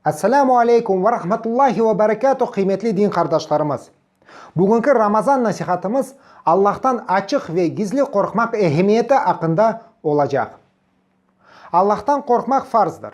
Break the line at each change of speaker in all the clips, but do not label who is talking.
Esselamu aleykum ve rahmetullahi ve berekatuh qıymetli din qardaşlarımız! Bugünki Ramazan nasihatımız Allah'tan açıq ve gizli qorqmaq ehemmiyeti aqqında olacaq. Allah'tan qorqmaq farzdır.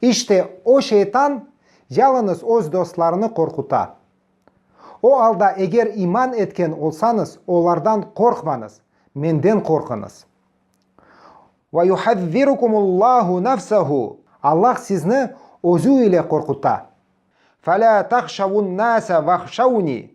İşte, o şeytan yalıñız öz dostlarını qorquta. O alda eger iman etken olsañız, olardan qorqmañız, Menden qorquñız. Ve yuhazzirukumul-Lâhu nefsehu, Allah sizni Özü ile qorquta. Fe lâ tahşavun-nâse vahşavni,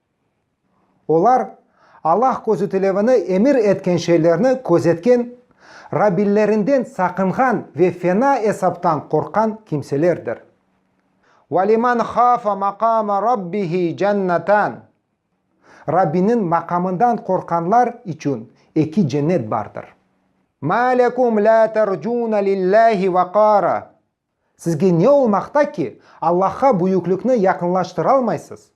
Olar, Allah közütilevini emir etken şeylerni közetken, Rabbillerinden saqınğan ve fena esaptan qorqqan kimselerdir. Ve limen hâfe maqâme Rabbihi cennetân. Rabbiniñ maqamından qorqqanlar içün eki cennet bardır. Mâ lekum lâ tercûne lillâhi veqâre. Sizge ne olmaqta ki, Allahqa büyüklikni yaqınlaştıralmaysız?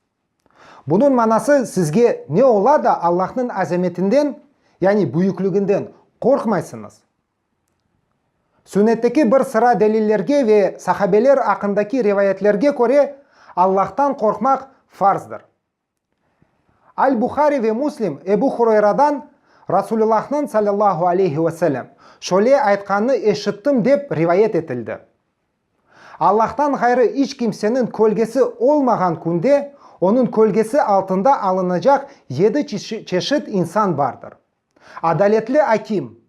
Bunıñ manası, sizge ne ola da Allahnıñ azametinden, yani büyükliginden, qorqmaysıñız? Sünnetteki bir sıra delillerge ve sahabeler aqqındaki rivayetlerge köre, Allahtan qorqmaq farzdır. Al-Buhari ve Muslim Ebu Hurayradan, Rasulullahnıñ sallallahu aleyhi ve sellem, şöyle aytqanını eşittim dep rivayet etildi, Allahtan ğayrı iç kimseniñ kölgesi olmağan künde onıñ kölgesi altında alınacaq yedi çeşit insan bardır, adaletli akim,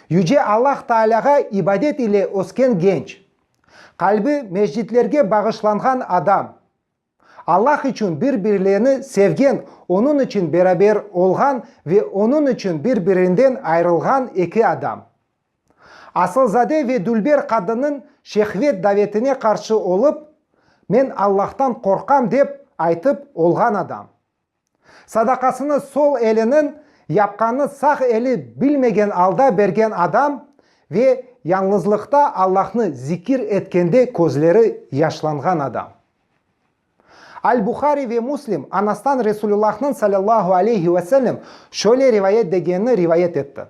Yüce Allah Taalâğa ibadet ile ösken genç, qalbi mescitlerge bağışlanğan adam, Allah içün bir-birlerini sevgen, Onıñ içün beraber olğan ve Onıñ içün bir-birinden ayrılğan eki adam. Asılzade ve dülber qadınnıñ şehvet davetine qarşı olıp, Men Allahtan qorqam dep aytıp olğan adam. Sadaqasını sol eliniñ yapqanını sağ eli bilmegen alda bergen adam ve yañlızlıqta Allahnı zikir etkende közleri yaşlanğan adam. Al-Buhari ve Muslim Anastan Resulullahnıñ salâllahu aleyhi ve sellem şöyle rivayet degenini rivayet etti,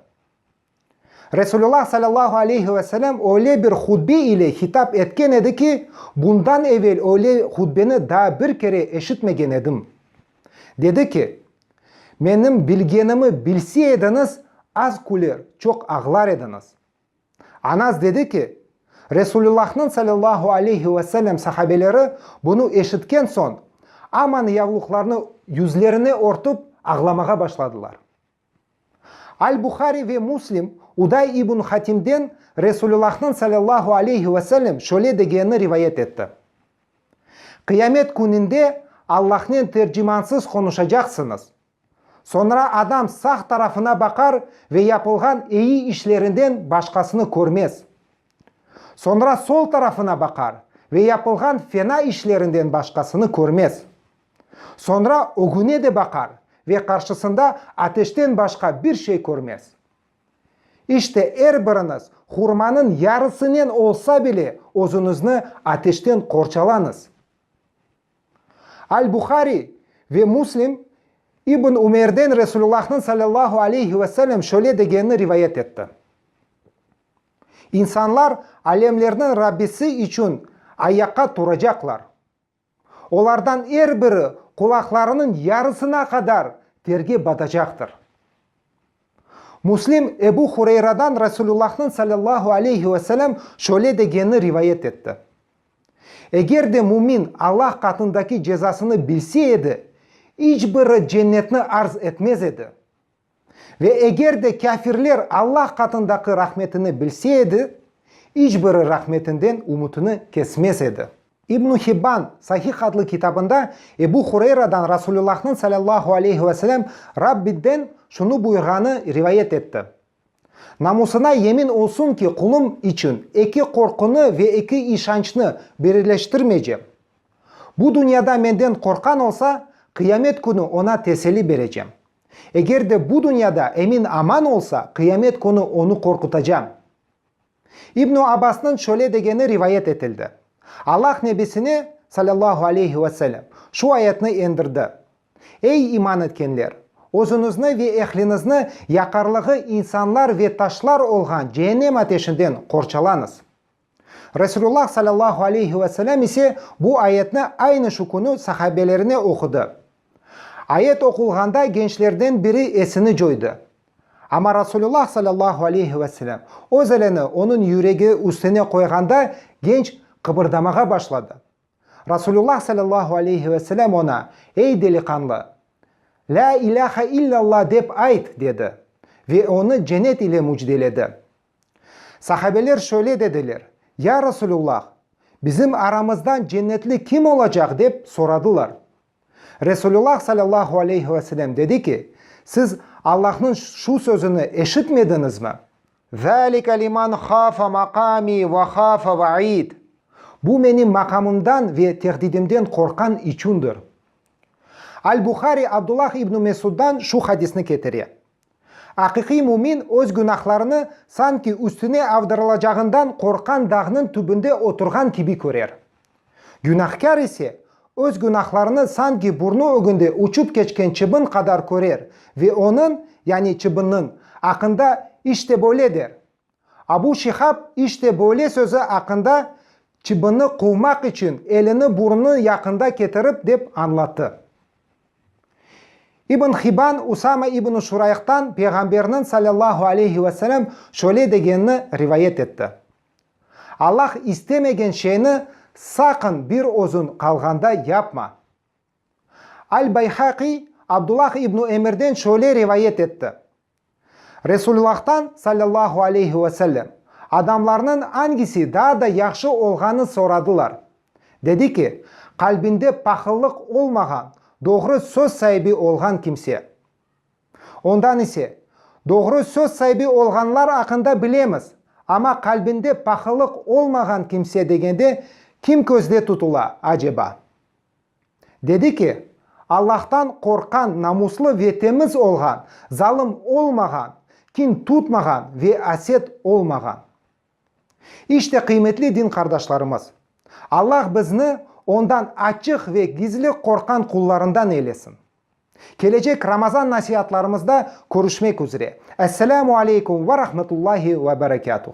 Resulullah sallallahu aleyhi ve sellem öyle bir hutbe ile hitap etken edi ki, bundan evel öyle hutbeni daa bir kere eşitmegen edim. Dedi ki, Menim bilgenimi bilse ediñiz, az küler, çoq ağlar ediñiz. Anas dedi ki, Resulullahnıñ sallallahu aleyhi ve sellem sahabeleri bunı eşitken soñ, aman yavluqlarını yüzlerine örtüp, ağlamağa başladılar. Al-Buhari ve Muslim Uday ibn Hatimden Resulullah'nıñ sallallahu aleyhi ve sellem şöyle degenini rivayet etti, Qıyamet kününde Allahnen tercimansız qonuşacaqsıñız. Soñra adam sağ tarafına baqar ve yapılğan eyi işlerinden başqasını körmez. Soñra sol tarafına baqar ve yapılğan fena işlerinden başqasını körmez. Soñra ögüne de baqar ve qarşısında ateşten başqa bir şey körmez. İşte, er biriñiz hurmanıñ yarısınen olsa bile özüñizni ateşten qorçalañız. Al-Buhariy ve Muslim İbn Ümerden Resulullahnıñ sallallahu aleyhi ve sellem şöyle degenini rivayet etti, İnsanlar Alemlerniñ Rabbisi içün ayaqqa turacaqlar. Olardan er biri qulaqlarınıñ yarısına qadar terge batacaqtır. Müslim Ebu Hureyradan Resulullahnıñ sallallahu aleyhi ve selem şöyle degenini rivayet etti, Eger de mümin Allah qatındaki cezasını bilse edi, iç biri cennetni arz etmez edi. Ve eger de kâfirler Alla qatındaki rahmetini bilse edi, iç biri rahmetinden ümütini kesmez edi. İbn Hibban Sahih adlı kitabında Ebu Hureyradan Rasulullahnıñ salâllahu aleyhi ve selem Rabbiden şunı buyurğanı rivayet etti, Namusına yemin olsun ki, qulum içün eki qorqunı ve eki işançnı birileştirmeycem. Bu dünyada menden qorqqan olsa, qıyamet künü oña teselli berecem. Eger de bu dünyada emin-aman olsa, qıyamet künü onı qorqutacam. İbn-i Abbasnıñ şöyle degeni rivayet etildi, Allah Nebisine, salâllahu aleyhi ve selem, şu ayetni endirdi, Ey, iman etkenler! Özüñizni ve ehliñizni yaqarlığı insanlar ve taşlar olğan cehennem ateşinden qorçalañız. Resulullah sallallahu aleyhi ve selem ise bu ayetni aynı şu künü sahabelerine oqudı. Ayet oqulğanda gençlerden biri esini coydı. Amma Resulullah sallallahu aleyhi ve selem öz elini onıñ yüregi üstüne qoyğanda genç qıbırdamağa başladı. Resulullah sallallahu aleyhi ve selem oña, Ey deliqanlı! La ilahe illallah dep ayt! dedi ve onı cenet ile mücdeledi. Sahabeler şöyle dediler, Ya Resulullah, bizim aramızdan cennetli kim olacaq? dep soradılar. Resulullah sallallahu aleyhi ve selem dedi ki, Siz Allahnıñ şu sözüni eşitmediñizmi? Zâlike liman hâfe makâmi ve hâfe vaid, Bu menim maqamımdan ve tehdidimden qorqqan içündir. Al-Buhari Abdullah ibn Mesuddan şu hadisni ketire. Aqiqiy mümin öz günahlarını sanki üstüne avdırılacağından qorqqan dağnıñ tübünde oturğan kibi körer. Günahkâr ise, öz günahlarını sanki burnu ögünde uçup keçken çıbın qadar körer ve onıñ, yani çıbınnıñ, aqqında, İşte böyle, der. Abu Şihab işte böyle sözü aqqında çıbını quvmaq içün elini burnunıñ yaqında ketirip dep añlattı. İbn Hiban Usama ibn Şurayqtan Peyğamberniñ salâllahu aleyhi ve selem şöyle degenini rivayet etti, Allah istemegen şeyni saqın bir özüñ qalğanda yapma. Al-Bayhaqiy Abdullah ibn Emirden şöyle rivayet etti, Resullâhtan, salâllahu aleyhi ve sellem, adamlarnıñ angisi daa da yahşı olğanı soradılar. Dedi ki, qalbinde pahıllıq olmağan, doğru söz saibi olğan kimse. Ondan ise, doğru söz saibi olğanlar aqqında bilemiz, amma qalbinde pahıllıq olmağan kimse degende kim közde tutula, aceba? Dedi ki, Allahtan qorqqan, namuslı ve temiz olğan, zalım olmağan, kin tutmağan ve aset olmağan. İşte, qıymetli din qardaşlarımız, Allah bizni Ondan açıq ve gizli qorqqan qullarından eylesin. Kelecek Ramazan nasiatlarımızda körüşmek üzre. Esselamu aleykum ve rahmetullahi ve berekâtuh.